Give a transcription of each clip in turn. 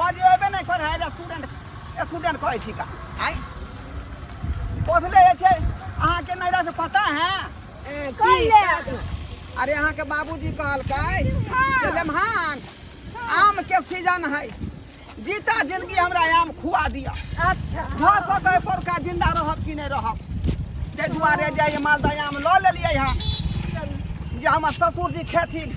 बजेबे नहि कर है स्टूडेंट स्टूडेंट कहै छी का आइ पढ़ले जे छै अहाँके नैरा से पता है ए, की? कहि ले अपना। अरे अहाँके बाबूजी कहलकै जे लेमहान आम के सीजन है जीता जिंदगी हमरा आम खुआ दिअ अच्छा भऽ सकै पोरका जिंदा रहब कि नहि रहब ताहि दुआरे जे ई मालदह आम लऽ लेलियै हँ जे हमर ससुरजी खेथिन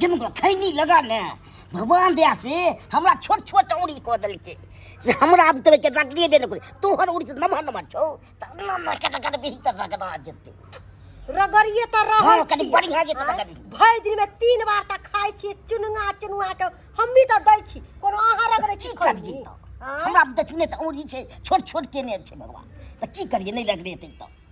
गिनगो खैनी लगा ने भगवान दया से हमरा छोट छोट औरी कऽ देलकै से हमरा आब तोरे के रखलिए बे नकरे तोहर औरी से नमहर नमहर छौ त ना ना कट कट बिही त रगड़ा जेते रगड़िए तऽ रहै हाँ, कनी छियै। बढ़ियाँ जेतै आँय, रगड़ी। भरि दिनमे तीन बार तऽ खाइ छियै चुनुआ चुनुआके हमही तऽ दै छी कोनो अहाँ रगड़ै छी की करिए खैनी? त आँय? हमरा आब देखने त औरी छै छोट छोट केने छै भगवान त की करिए नै लगरेतै त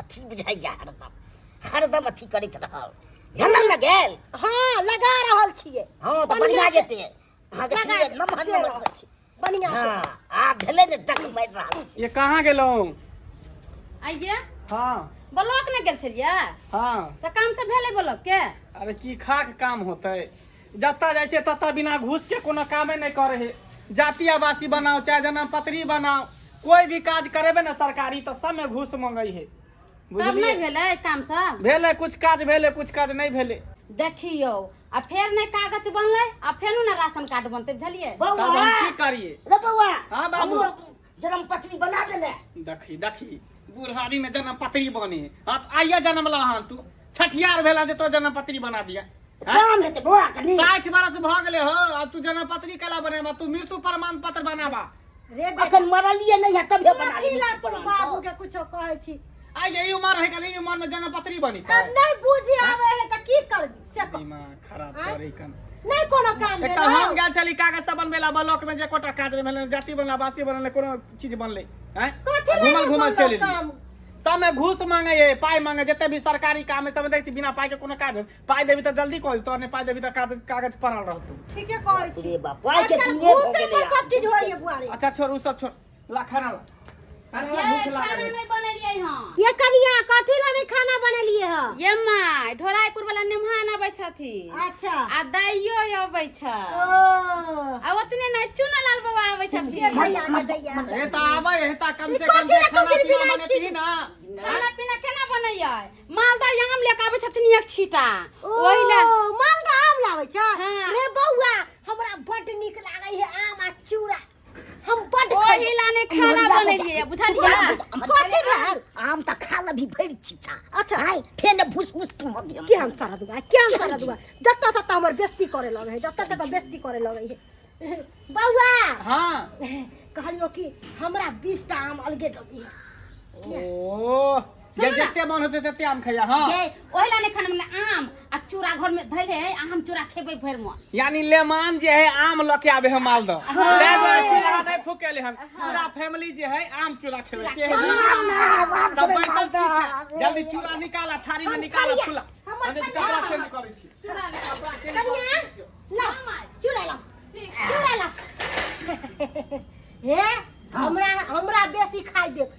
अथी बुझाइया हरदम हरदम अथी करैत रहल झलम न गेल हाँ लगा रहल छियै हाँ तऽ बढ़िया जेते अहाँके लगा छियै नमहर दे नमहर रहल छी बढ़िया से। हाँ आब भेलै ने डक मारि रहल छी ये कहाँ गेलहुँ आइये हाँ ब्लॉक ने गेल छलियै हाँ तऽ काम सब भेलै ब्लॉक के अरे की खाक काम होतै जतऽ जाइ छियै ततऽ बिना घूसके कोनो कामे नहि करै है जाति आवासी बनाओ चाहे जन्म पत्री बनाओ कोई भी काज करेबे ने सरकारी तऽ सबमे घूस मंगै है तब नहि बुझलियै भेलै काम सब भेलै कुछ काज भेलै कुछ काज नहि भेलै देखियौ आ फेर नहि कागज बनलै आ फेर ने राशन कार्ड बनतै बुझलियै तब हम की करियै रे बौआ हाँ, बाबू। हमरो जन्म पत्री बना देने देखी देखी बुढ़ारी में जन्म पत्री बने हाँ तो आइया जन्म ला हन तू छठियार भेला जे तो जन्म पत्री बना दिया काम हेतै बौआ कनी साठि बरस भऽ गेले हो अब तू जन्म पत्री कला बनेबा तू मृत्यु प्रमाण पत्र बनाबा रे बेटा अखन मरलिए नहीं है तबे बना अभी ला तू बाबू ली के कुछो कहै छी आइ जे ई उमर है कल ई उमर में जन्म पत्री बनी अब नहीं बुझी आवे है त की करबी दिमाग खराब करे कन नहीं कोनो काम एकटा भेल हम गेल छली कागज सब बनबे ला ब्लॉक में जे कोटा काज भेल जाति बनला बासी बनले कोनो चीज बनले हैं कथी ला घुमल घुमल कोनो चलि काम? एलियै सब में घूस मांगे ये पाई मांगे जते भी सरकारी काम है सब में देख छी बिना पाई के कोनो काज होय। पाई देबी त जल्दी कॉल तो ने पाई देबी त कागज कागज पड़ल रहतौ ठीके कहै छी रे बाप, पाइ के आजकल दुनिया घूसे भऽ पर गेलै सब चीज होइए बुआरी अच्छा छोड़ उ सब छोड़ ला खाना ला अरे हमरा भूख ये खाना लागल है। नहीं बनेलिए हम ये कनिया कथी ला नहीं खाना बनेलिए ह ये माय ढोराईपुर वाला नेमहान आबै छथिन अच्छा आ दाइयो अबै छ ओ आ ओतने नै चुनलाल बाबा आबै ये छथिन भैया ना दैया हे त आबै हे त कम से ई कम कथी से ला खाना कबीर पीना बिना बने छी? थी ना खाना पीना केना बनैयै मालदह आम लेके आबै छथिन एक छीटा ओहि ले ओ मालदह आम लाबै छ हाँ। रे बौआ हमरा बड नीक लागै है आम आ चूड़ा हम बड ओही ला ने खाना बनेलिए बुझलिए कथी भेल आम त खा लबी भरि छिछा अच्छा आइ फेन भुस भुस तू हम के हम सारा दुआ के हम सारा दुआ जत्ता सत्ता हमर बेस्ती करे लगे है जत्ता तत्ता बेस्ती करे लगे है बौआ हां कहलियो कि हमरा 20 टा आम अलगे दबी ओ सुनू ना। जते मन होते तते आम खैया हाँ ये ओहे ला ने खाना मिले आम आ चूड़ा घर में धैले है आम चूड़ा खेबे भर मन यानी लेमान जे है आम लऽ के आबे है मालदह तै दुआरे चूल्हा नहीं फूकेले हम पूरा फैमिली जे है आम चूल्हा खेबे से है तब बैठल की छै? जल्दी चूल्हा निकाल आ थारी में निकाल आ फुला हम जे कपड़ा चेंज करै छी चूड़ा ले कपड़ा के कनिया ला चूड़ा ला ठीक चूड़ा ला हे हमरा हमरा बेसी खाइ देब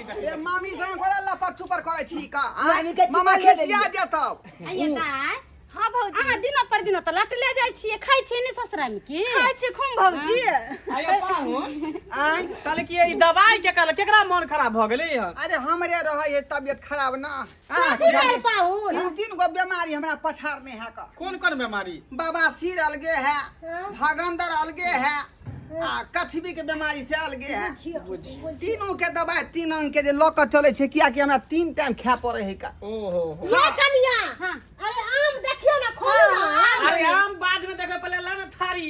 ए मामी संग कोला लपट छुपर करै छी का मामी के आँय? मामा टिपा खेले खिसिया जेतौ आइए दाय हाँ भौजी अहाँ दिनो पर दिनो तऽ लट ले जाइ छियै खाइ छियै ने ससुरा में की खाइ छी खूब भौजी आयो पाहुन आँय कहलकै ई दवाई के कहल केकरा मन खराब भऽ गेलै हन अरे हमरे रहै है तबियत खराब ना हाँ, तू जाने पाहुन तीन तीन गो बीमारी हमरा पछाड़ने है का कोन कोन बीमारी बाबा सिर अलगे है भगंदर अलगे है आ कछबी के बीमारी से अलगे है तीनों के दवाई तीन अंग के जे लऽ कऽ चलै छै किया कि हमरा तीन टाइम खाय पड़े है का ओहो ये कनिया अरे आम देखियो ना खोल ना अरे आम बाद में देखो पहले लाना थारी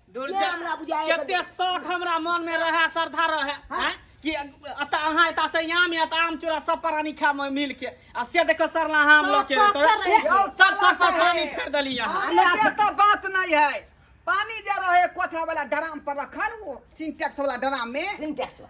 दूर के जा हमरा बुझाए कते कते- शौक हमरा मन में रहे श्रद्धा रहे हाँ। हैं? कि अता अहाँ एता से आम या त आम चूड़ा सब प्राणी खा में मिल के आ से देखो सरला आम शौक- लके शौक तो से रहे। यौ, सब सब साला पर से पानी है। फेर देली यहाँ आने के तो बात नहीं है पानी जे रहे कोठा वाला ड्राम पर रखल वो सिंटेक्स वाला ड्राम में सिंटेक्स बा।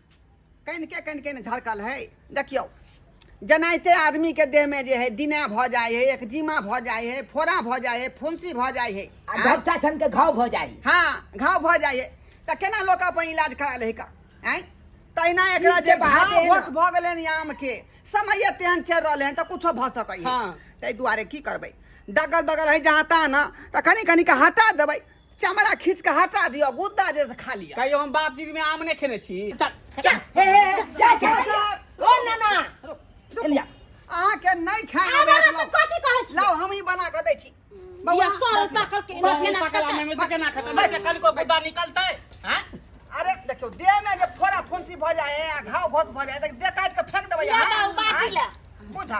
कनि के कनि कनि झड़कल है देखियौ जनाइते आदमीके देहमे जे है दिना भऽ जाइ है एकजीमा भऽ जाइ है फोड़ा भऽ जाइ है फुंसी भऽ जाइ है आ ढपचा छन के घाव भऽ जाइ हाँ घाव भऽ जाइ है तऽ केना लोक अपन इलाज करा लै का आँय तहिना एकरा जे घाव होश भऽ गेलनि आमके समय तेहन चलि रहलै हन तऽ कुछो भऽ सकैए ताहि दुआरे की करबै डगल बगल है जहाँ तहाँ ने तऽ कनि कनि कऽ हटा देबै चमड़ा खींच के हटा दियो गुद्दा जैसे खा लिया कहियो हम बाप जी में आम नहीं खेने छी चल चल हे हे हे, जा जा जा। ओ ना ना एलिया अहाँ के नहीं खाए आब हमरा तू कथी कहै छी लाओ हम ही बना के दै छी बौआ सरल पाकल के सब केना पाकल खाता आमे में से केना खतम बस। कल को गुद्दा निकलतै हैं अरे देखियो देह में जे फोड़ा फुंसी भ जाए है घाव घोस भ जाए है, त दे काट के फेंक देबै ला, अहाँ ला, बाटी ला। बुझा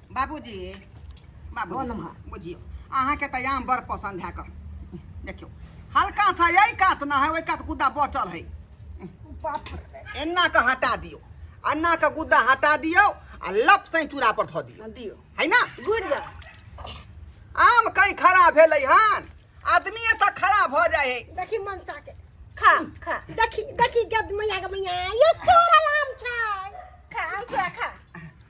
बाबूजी बाबू बोल माँ। बुझियौ अहाँके तऽ आम बड़ पसन्द है कऽ देखियौ हल्का सा एहि कात न है ओहि कात गुद्दा बचल है बाप रे। एना कऽ हटा दियौ एना कऽ गुद्दा हटा दियौ आ लप सै चूड़ा पर धऽ दियौ दियो है ना गुड़ जा आम कहीं खड़ा भेलै हन आदमी एतऽ खड़ा भऽ जाइ है देखी मनसा के खा खा देखी देखी गद मैया के मैया ये चोरा नाम छै खा आम चूड़ा खा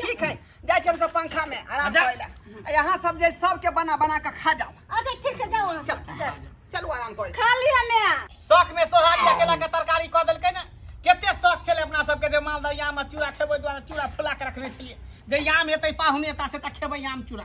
ठीक है जाए छी हम सब पंखा में आराम जा। करे ला आ यहाँ सब जे सबके बना बना के खा जाओ अच्छा ठीक है जाओ चल चल चलू आराम करे खा लिया ने शौक में सोहारी आ केला के तरकारी कऽ देलकै ने कते शौक छलै अपना सबके जे मालदह आम आ चूड़ा खेबै दुआरे चूड़ा फुला के रखने छलियै जे आम हेतै पाहुने ता से तऽ खेबै आम चूड़ा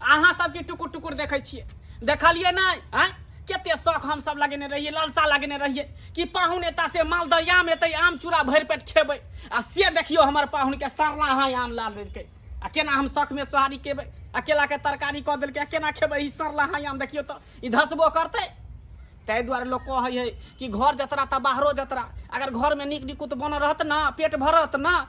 अहाँ सबके टुकुर टुकुर देखै छियै देखलिए ना आय कते शौक हम सब लगेने रहिए लालसा लगेने रहिए कि पाहुन एता से मालदयाम एतै आम चूड़ा भरि पेट खेबै आ से देखियो हमर पाहुन के सरला हाँ आम ला देलकै आ केना हम शौक में सोहारी केबै अकेला के तरकारी कऽ देलकै आ केना खेबै ई सरला हाँ आम देखियो तो ई धसबो करतै ताहि दुआरे लोग कहै है कि घर जतरा तऽ बाहरो जतरा अगर घर में नीक निकुत बनल रहत ना पेट भरत ना